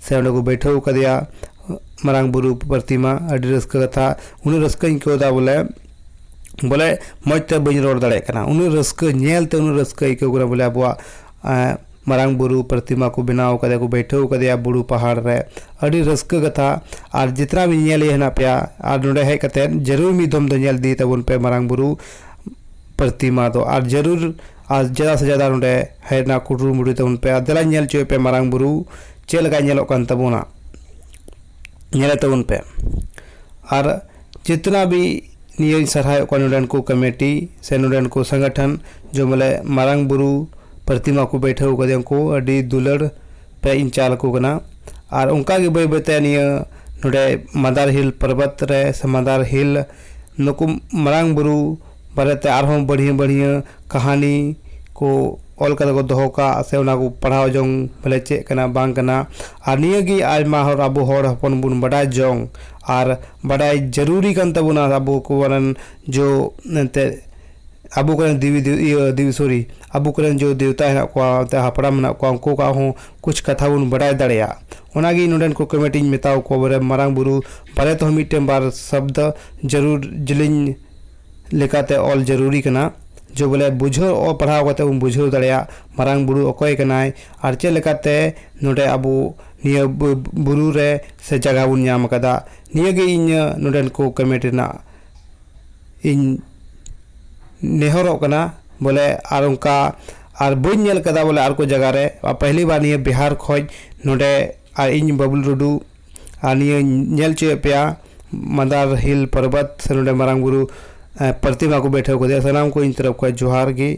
ᱥᱮ ᱚᱸᱰᱮ ᱠᱚ ᱵᱟᱹᱭᱴᱷᱟᱹᱣ ᱠᱟᱫᱮᱭᱟ ᱢᱟᱨᱟᱝ ᱵᱩᱨᱩ ᱯᱨᱚᱛᱤᱢᱟ ᱟᱹᱰᱤ ᱨᱟᱹᱥᱠᱟᱹ ᱠᱟᱛᱷᱟ ᱩᱱᱟᱹᱜ ᱨᱟᱹᱥᱠᱟᱹᱧ ᱟᱹᱭᱠᱟᱹᱣ ᱮᱫᱟ ᱵᱚᱞᱮ ᱵᱚᱞᱮ ᱢᱚᱡᱽ ᱛᱮ ᱵᱟᱹᱧ ᱨᱚᱲ ᱫᱟᱲᱮᱭᱟᱜ ᱠᱟᱱᱟ ᱩᱱᱟᱹᱜ ᱨᱟᱹᱥᱠᱟᱹ ᱧᱮᱞ ᱛᱮ ᱩᱱᱟᱹᱜ ᱨᱟᱹᱥᱠᱟᱹ ᱟᱹᱭᱠᱟᱹᱣ ᱠᱟᱱᱟ ᱵᱚᱞᱮ ᱟᱵᱚᱣᱟᱜ ᱢᱟᱨᱟᱝ ᱵᱩᱨᱩ ᱯᱨᱚᱛᱤᱢᱟ ᱠᱚ ᱵᱮᱱᱟᱣ ᱠᱟᱫᱮᱭᱟ ᱠᱚ ᱵᱟᱹᱭᱴᱷᱟᱹᱣ ᱠᱟᱫᱮᱭᱟ ᱵᱩᱨᱩ ᱯᱟᱦᱟᱲ ᱨᱮ ᱟᱹᱰᱤ ᱨᱟᱹᱥᱠᱟᱹ ᱠᱟᱛᱷᱟ ᱟᱨ ᱡᱚᱛᱚᱱᱟ ᱵᱚᱱ ᱧᱮᱞᱮᱭᱟ ᱦᱮᱱᱟᱜ ᱯᱮᱭᱟ ᱟᱨ ᱱᱚᱰᱮ ᱦᱮᱡ ᱠᱟᱛᱮ ᱡᱟᱹᱨᱩᱲ ᱢᱤᱫ ᱫᱚᱢ ᱫᱚ ᱧᱮᱞ ᱤᱫᱤᱭᱮ ᱛᱟᱵᱚᱱ ᱯᱮ ᱢᱟᱨᱟᱝ ᱵᱩᱨᱩ ᱯᱨᱚᱛᱤᱢᱟ ᱫᱚ ᱟᱨ ᱡᱟᱹᱨᱩᱲ ᱟᱨ ᱡᱟᱫᱟ ᱥᱮ ᱡᱟᱫᱟ ᱱᱚᱸᱰᱮ ᱦᱮᱡ ᱨᱮᱱᱟᱜ ᱠᱩᱨᱩᱢᱩᱴᱩᱭ ᱛᱟᱵᱚᱱ ᱯᱮ ᱟᱨ ᱫᱮᱞᱟᱧ ᱧᱮᱞ ᱦᱚᱪᱚᱭᱮᱫ ᱯᱮᱭᱟ ᱢᱟᱨᱟᱝ ᱵᱩᱨᱩ ᱪᱮᱫ ᱞᱮᱠᱟᱭ ᱧᱮᱞᱚᱜ ᱠᱟᱱ ᱛᱟᱵᱚᱱᱟ ᱧᱮᱞᱮ ᱛᱟᱵᱚᱱ ᱯᱮ ᱟᱨ ᱡᱤᱛᱱᱟ ᱵᱷᱤ ᱱᱤᱭᱟᱹᱧ ᱥᱟᱨᱦᱟᱣᱮᱫ ᱠᱚᱣᱟ ᱱᱚᱸᱰᱮᱱ ᱠᱚ ᱠᱚᱢᱤᱴᱤ ᱥᱮ ᱱᱚᱸᱰᱮᱱ ᱠᱚ ᱥᱚᱝᱜᱚᱴᱷᱚᱱ ᱡᱮ ᱵᱚᱞᱮ ᱢᱟᱨᱟᱝ ᱵᱩᱨᱩ ᱯᱨᱚᱛᱤᱢᱟ ᱠᱚ ᱵᱟᱹᱭᱴᱷᱟᱹᱣ ᱠᱟᱫᱮᱭᱟ ᱩᱱᱠᱩ ᱟᱹᱰᱤ ᱫᱩᱞᱟᱹᱲ ᱛᱮ ᱤᱧ ᱪᱟᱞ ᱟᱠᱚ ᱠᱟᱱᱟ ᱟᱨ ᱚᱱᱠᱟ ᱜᱮ ᱵᱟᱹᱭ ᱵᱟᱹᱭ ᱛᱮ ᱱᱤᱭᱟᱹ ᱱᱚᱸᱰᱮ ᱢᱟᱫᱟᱨ ᱦᱤᱞ ᱯᱚᱨᱵᱚᱛ ᱨᱮ ᱥᱮ ᱢᱟᱫᱟᱨ ᱦᱤᱞ ᱱᱩᱠᱩ ᱢᱟᱨᱟᱝ ᱵᱩᱨᱩ ᱵᱟᱨᱮ ᱛᱮ ᱟᱨ ᱦᱚᱸ ᱵᱟᱹᱲᱦᱭᱟᱹ ᱵᱟᱹᱲᱦᱭᱟᱹ ᱠᱟᱹᱦᱱᱤ ᱠᱚ ᱚᱞ ᱠᱟᱛᱮ ᱠᱚ ᱫᱚᱦᱚ ᱠᱟᱜᱼᱟ ᱥᱮ ᱚᱱᱟ ᱠᱚ ᱯᱟᱲᱦᱟᱣ ᱡᱚᱝ ᱵᱚᱞᱮ ᱪᱮᱫ ᱠᱟᱱᱟ ᱵᱟᱝ ᱠᱟᱱᱟ ᱟᱨ ᱱᱤᱭᱟᱹ ᱜᱮ ᱟᱭᱢᱟ ᱦᱚᱲ ᱟᱵᱚ ᱦᱚᱲ ᱦᱚᱯᱚᱱ ᱵᱚᱱ ᱵᱟᱰᱟᱭ ᱡᱚᱝ ᱟᱨ ᱵᱟᱰᱟᱭ ᱡᱟᱹᱨᱩᱨᱤ ᱠᱟᱱ ᱛᱟᱵᱚᱱᱟ ᱟᱵᱚ ᱠᱚ ᱨᱮᱱ ᱡᱚ ᱢᱮᱱᱛᱮ ᱟᱵᱚ ᱠᱚ ᱨᱮᱱ ᱫᱮᱵᱤ ᱫᱮᱵᱤ ᱥᱚᱨᱤ ᱟᱵᱚ ᱠᱚ ᱨᱮᱱ ᱡᱚ ᱫᱮᱵᱛᱟ ᱦᱮᱱᱟᱜ ᱠᱚᱣᱟ ᱥᱮ ᱦᱟᱯᱲᱟᱢ ᱢᱮᱱᱟᱜ ᱠᱚᱣᱟ ᱩᱱᱠᱩ ᱠᱚᱣᱟᱜ ᱦᱚᱸ ᱠᱩᱪ ᱠᱟᱛᱷᱟ ᱵᱚᱱ ᱵᱟᱰᱟᱭ ᱫᱟᱲᱮᱭᱟᱜ ᱚᱱᱟ ᱜᱮ ᱱᱚᱰᱮᱱ ᱠᱚ ᱠᱚᱢᱤᱴᱤᱧ ᱢᱮᱛᱟᱣ ᱠᱚᱣᱟ ᱵᱚᱞᱮ ᱢᱟᱨᱟᱝ ᱵᱳᱨᱳ ᱵᱟᱨᱮ ᱛᱮ ᱦᱚᱸ ᱢᱤᱫᱴᱮᱱ ᱵᱟᱨ ᱥᱚᱵᱫᱚ ᱡᱟᱹᱨᱩᱲ ᱡᱤᱞᱤᱧ ᱞᱮᱠᱟᱛᱮ ᱚᱞ ᱡᱟᱹᱨᱩᱨᱤ ᱠᱟᱱᱟ ᱡᱮ ᱵᱚᱞᱮ ᱵᱩᱡᱷᱟᱹᱣ ᱚᱞ ᱯᱟᱲᱦᱟᱣ ᱠᱟᱛᱮ ᱵᱚᱱ ᱵᱩᱡᱷᱟᱹᱣ ᱫᱟᱲᱮᱭᱟᱜ ᱢᱟᱨᱟᱝ ᱵᱩᱨᱩ ᱚᱠᱚᱭ ᱠᱟᱱᱟᱭ ᱟᱨ ᱪᱮᱫ ᱞᱮᱠᱟᱛᱮ ᱱᱚᱰᱮ ᱟᱵᱚ ᱱᱤᱭᱟᱹ ᱵᱩᱨᱩ ᱨᱮ ᱥᱮ ᱡᱟᱭᱜᱟ ᱵᱚᱱ ᱧᱟᱢ ᱠᱟᱫᱟ ᱱᱤᱭᱟᱹ ᱜᱮ ᱤᱧᱟᱹᱜ ᱱᱚᱰᱮᱱ ᱠᱚ ᱠᱚᱢᱤᱴᱤ ᱨᱮᱱᱟᱜ ᱤᱧ ᱱᱮᱦᱚᱨᱚᱜ ᱠᱟᱱᱟ ᱵᱚᱞᱮ ᱟᱨ ᱚᱱᱠᱟ ᱟᱨ ᱵᱟᱹᱧ ᱧᱮᱞ ᱠᱟᱫᱟ ᱵᱚᱞᱮ ᱟᱨ ᱠᱚ ᱡᱟᱭᱜᱟ ᱨᱮ ᱯᱮᱦᱞᱤ ᱵᱟᱨ ᱱᱤᱭᱟᱹ ᱵᱤᱦᱟᱨ ᱠᱷᱚᱡ ᱱᱚᱰᱮ ᱟᱨ ᱤᱧ ᱵᱟᱹᱵᱽᱞᱩ ᱴᱩᱰᱩ ᱟᱨ ᱱᱤᱭᱟᱹᱧ ᱧᱮᱞ ᱦᱚᱪᱚᱭᱮᱫ ᱯᱮᱭᱟ ᱢᱟᱫᱟᱨ ᱦᱤᱞ ᱯᱚᱨᱵᱚᱛ ᱥᱮ ᱱᱚᱰᱮ ᱢᱟᱨᱟᱝ ᱵᱩᱨᱩ ᱯᱨᱚᱛᱤᱢᱟ ᱠᱚ ᱵᱟᱹᱭᱴᱷᱟᱹᱣ ᱠᱟᱫᱮᱭᱟ ᱥᱟᱱᱟᱢ ᱠᱚ ᱤᱧ ᱛᱚᱨᱚᱯ ᱠᱷᱚᱱ ᱡᱚᱦᱟᱨ ᱜᱮ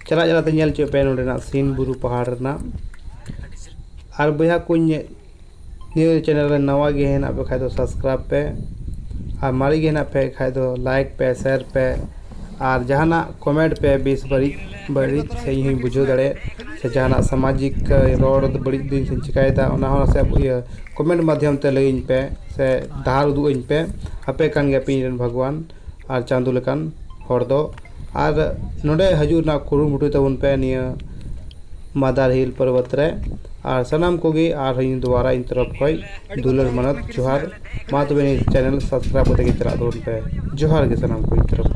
ᱪᱟᱞᱟᱜ ᱪᱟᱞᱟᱜ ᱛᱮ ᱧᱮᱞ ᱦᱚᱪᱚᱭᱮᱫ ᱯᱮᱭᱟ ᱱᱚᱰᱮᱱᱟᱜ ᱥᱤᱱ ᱵᱩᱨᱩ ᱯᱟᱦᱟᱲ ᱨᱮᱱᱟᱜ ᱟᱨ ᱵᱚᱭᱦᱟ ᱠᱚ ᱱᱤᱭᱟᱹ ᱪᱮᱱᱮᱞ ᱨᱮ ᱱᱟᱣᱟ ᱜᱮ ᱦᱮᱱᱟᱜ ᱯᱮ ᱠᱷᱟᱡ ᱫᱚ ᱥᱟᱵᱥᱠᱨᱟᱭᱤᱵᱽ ᱯᱮ ᱟᱨ ᱢᱟᱨᱮ ᱜᱮ ᱦᱮᱱᱟᱜ ᱯᱮ ᱠᱷᱟᱡ ᱫᱚ ᱞᱟᱭᱤᱠ ᱯᱮ ᱥᱮᱭᱟᱨ ᱯᱮ ᱟᱨ ᱡᱟᱦᱟᱱᱟᱜ ᱠᱚᱢᱮᱱᱴ ᱯᱮ ᱵᱮᱥ ᱵᱟᱹᱲᱤᱡ ᱵᱟᱹᱲᱤᱡ ᱥᱮ ᱤᱧ ᱦᱚᱸᱧ ᱵᱩᱡᱷᱟᱹᱣ ᱫᱟᱲᱮᱭᱟᱜ ᱥᱮ ᱡᱟᱦᱟᱱᱟᱜ ᱥᱟᱢᱟᱡᱤᱠ ᱨᱚᱲ ᱵᱟᱹᱲᱤᱡ ᱫᱤᱱ ᱥᱮᱧ ᱪᱤᱠᱟᱹᱭᱮᱫᱟ ᱚᱱᱟ ᱦᱚᱸ ᱥᱮ ᱤᱭᱟᱹ ᱠᱚᱢᱮᱱᱴ ᱢᱟᱫᱽᱫᱷᱚᱢ ᱛᱮ ᱞᱟᱹᱭᱟᱹᱧ ᱯᱮ ᱥᱮ ᱰᱟᱦᱟᱨ ᱩᱫᱩᱜ ᱟᱹᱧ ᱯᱮ ᱟᱯᱮ ᱠᱟᱱ ᱜᱮᱭᱟ ᱯᱮ ᱤᱧ ᱨᱮᱱ ᱵᱷᱟᱜᱽᱣᱟᱱ ᱟᱨ ᱪᱟᱸᱫᱚ ᱞᱮᱠᱟᱱ ᱦᱚᱲ ᱫᱚ ᱟᱨ ᱱᱚᱰᱮ ᱦᱤᱡᱩᱜ ᱨᱮᱱᱟᱜ ᱠᱩᱨᱩᱢᱩᱴᱩᱭ ᱛᱟᱵᱚᱱ ᱯᱮ ᱱᱤᱭᱟᱹ ᱢᱟᱫᱟᱨ ᱦᱤᱞ ᱯᱚᱨᱵᱚᱛ ᱨᱮ ᱟᱨ ᱥᱟᱱᱟᱢ ᱠᱚᱜᱮ ᱟᱨ ᱦᱚᱸ ᱤᱧ ᱫᱩᱵᱟᱨᱟ ᱤᱧ ᱛᱚᱨᱚᱯᱷ ᱠᱷᱚᱱ ᱫᱩᱞᱟᱹᱲ ᱢᱟᱱᱚᱛ ᱡᱚᱦᱟᱨ ᱢᱟ ᱛᱚᱵᱮ ᱱᱤᱭᱟᱹ ᱪᱮᱱᱮᱞ ᱥᱟᱵᱥᱠᱨᱟᱭᱤᱵᱽ ᱠᱟᱛᱮᱫ ᱜᱮ ᱪᱟᱞᱟᱜ ᱛᱟᱵᱚᱱ ᱯᱮ ᱡᱚᱦᱟᱨ ᱜᱮ ᱥᱟᱱᱟᱢ ᱠᱚ ᱤᱧ ᱛᱚᱨᱚᱯᱷ ᱠᱷᱚᱱ